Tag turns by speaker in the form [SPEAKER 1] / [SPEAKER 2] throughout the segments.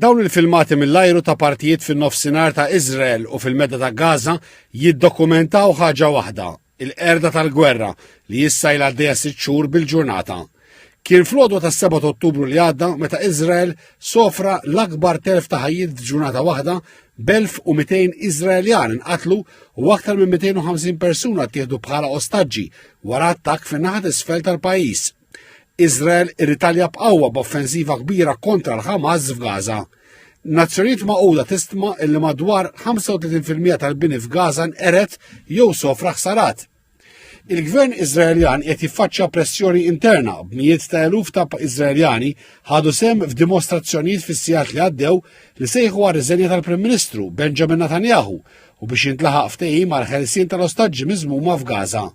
[SPEAKER 1] Dawn il-filmati mill-ajru ta' partijiet fin-nofsinhar ta' Iżrael u fil-Medda ta' Gaza jiddokumentaw ħaġa waħda, il-qerda tal-gwerra li issa ilha għaddejja sitt xhur bil-ġurnata. Kien fl-għodwa tas-7 Ottubru li għadda meta Iżrael sofra l-akbar telf ta' ħajjiet f'ġurnata waħda b'1200 Iżraeljan inqatlu u aktar minn 250 persuna ttieħdu bħala ostaġġi wara attakk fin-naħa t'isfel tal-pajjiż. Iżrael irritalja b'qawwa b'offensiva kbira kontra l-Ħamas f'Gaza. Nazzjonijiet maquda tistma illi madwar 35% tal-bini f'Gaza nqeret jew sofra ħsarat. Il-gvern Iżraeljan qed jiffaċċja pressjoni interna b'mijiet ta' eluf ta' Iżraeljani ħadu sem f'dimostrazzjonijiet fis-sigħat li għaddew li sejħu għar riżenja tal-Prim Ministru Benjamin Netanyahu u biex jintlaħaq ftehim għal ħelsien tal-ostaġġi miżmuma f'Gaza.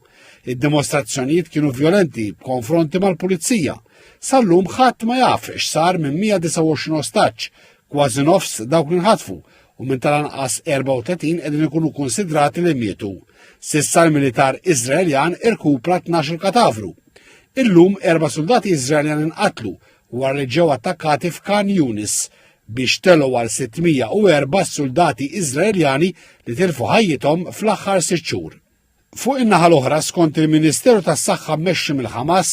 [SPEAKER 1] Id-dimostrazzjonijiet kienu vjolenti b'konfronti mal-pulizija. Sal-lum ħadd ma jaf x'sar minn 129 ostaġġ, kważi nofs dawk li nħatfu u minn tal-anqas 34 qegħdin ikunu konsidrati li mietu. Sissa l-militar Iżraeljan irkupra 12 katavru. Illum erba' soldati Iżraeljan inqatlu wara li ġew attakkati f'Kan Yunis biex telu għal 604 soldati Iżraeljani li tilfu ħajjithom fl-aħħar sitt xhur. Fuq in-naħa l-oħra, skont il-Ministeru tas-Saħħa mmexxi mill-Ħamas,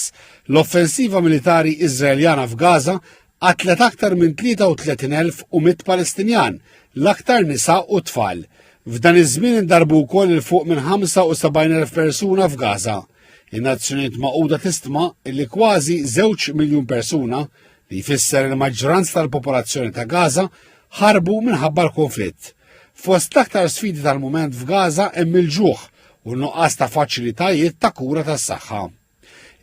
[SPEAKER 1] l-offensiva militari Iżraeljana f'Gaza qatlet aktar minn 33,100 Palestinjan, l-aktar nisa u tfal. F'dan iż-żmien indarbu wkoll il fuq minn 75,000 persuna f'Gaza. In-Nazzjonijiet Magħquda tistma li kważi żewġ miljun persuna li jfisser li maġġoranza tal-popolazzjoni ta' Gaza ħarbu minħabba l-konflitt. Fost l-aktar sfidi tal-mument f'Gaza hemm il-ġuħ u nuqqas ta' faċilitajiet ta' kura tas-saħħa.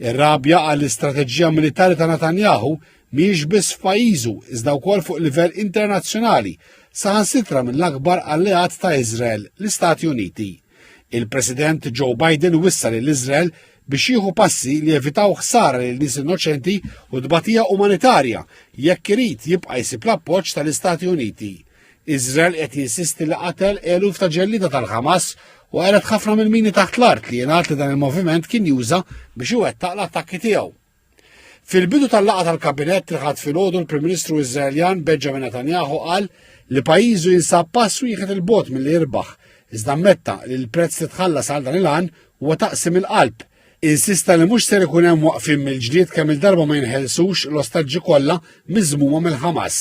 [SPEAKER 1] Ir-rabja għall-istrateġija militari ta' Netanyahu miex biss f'pajjiżu iżda wkoll fuq livell internazzjonali saħansitra mill-akbar alleat ta' Iżrael, l-Istati Uniti. Il-President Joe Biden wissa lil Iżrael biex jieħu passi li evitaw ħsara lil nies innoċenti u tbatija umanitarja jekk irid jibqa' jsib l-appoġġ tal-Istati Uniti. Iżrael qed jinsisti li qatel eluf ta' ġellida tal-Ħamas u qalet ħafna mill-mini taħt l-art li jingħad li dan il-moviment kien juża biex iwettaq l-attakki tiegħu. Fil-bidu tal-laqgħa tal-Kabinett li ħadd filgħodu l-Prim Ministru Iżraeljan Benjamin Netanyahu qal li pajjiżu jinsab pass wieħed il-bot milli jirbaħ, iżda ammetta li l-prezz li tħallas għal dan il-għan huwa taqsim il-qalb. Insista li mhux ser ikun hemm waqfin mill-ġdid kemm il-darba ma jinħelsux l-ostaġġi kollha miżmuma mill-Ħamas.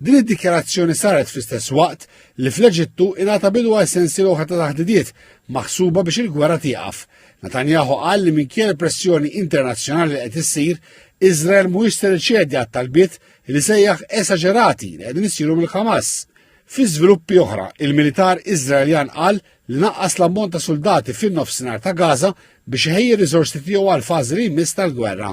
[SPEAKER 1] Din id-dikjarazzjoni saret fl-istess waqt li fl-Eġittu ingħata bidu għal sensiel oħra ta' taħdidiet maħsuba biex il-gwerra tieqaf. Netanyahu qal li minkejja l-pressjoni internazzjonali li qed issir, Iżrael mhuwiex se riċedi għat-talbiet li sejjaħ esaġerati li qegħdin isiru mill-Hamas. Fi żviluppi oħra, il-militar Iżraeljan qal li naqqas l-ammont ta' soldati fin-nofsinhar ta' Gaza biex iħejji riżorsi tiegħu għal fażi li jmiss tal-gwerra.